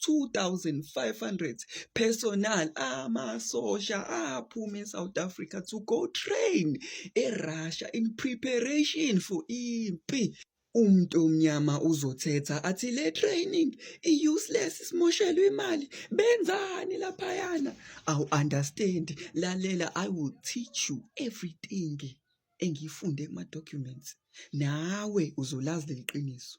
2,500 personal amasosha aphuma eSouth Africa to go train eRussia in preparation for impi umuntu omnyama uzothetha athi le training i-useless simoshelwe imali benzani laphayana awu understand lalela i will teach you everything engiyifunde kuma-documents nawe uzolazi leli qiniso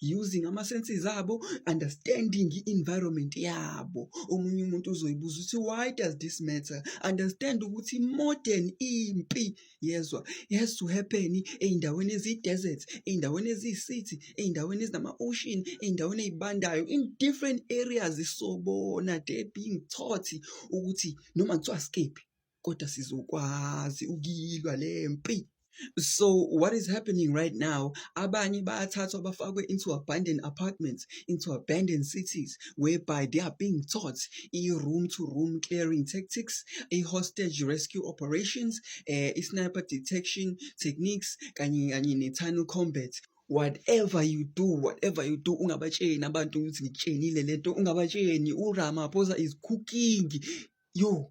using ama senses abo understanding i environment yabo omunye umuntu uzoyibuza ukuthi why does this matter understand ukuthi modern impi yezwa has to happen eindaweni ezi desert eindaweni ezi city eindaweni ezinama ocean eindaweni ezibandayo in different areas sobona they being taught ukuthi noma kuthiwa skip kodwa sizokwazi ukuyilwa le mpi so what is happening right now abanye bayathathwa bafakwe into abandoned apartments into abandoned cities whereby they are being taught i-room to room clearing tactics i-hostage rescue operations eh, i-sniper detection techniques kanye kanye ne-tunnel combat whatever you do whatever you do ungabatsheni abantu ukuthi ngitshenile lento ungabatsheni uramaphosa is cooking yo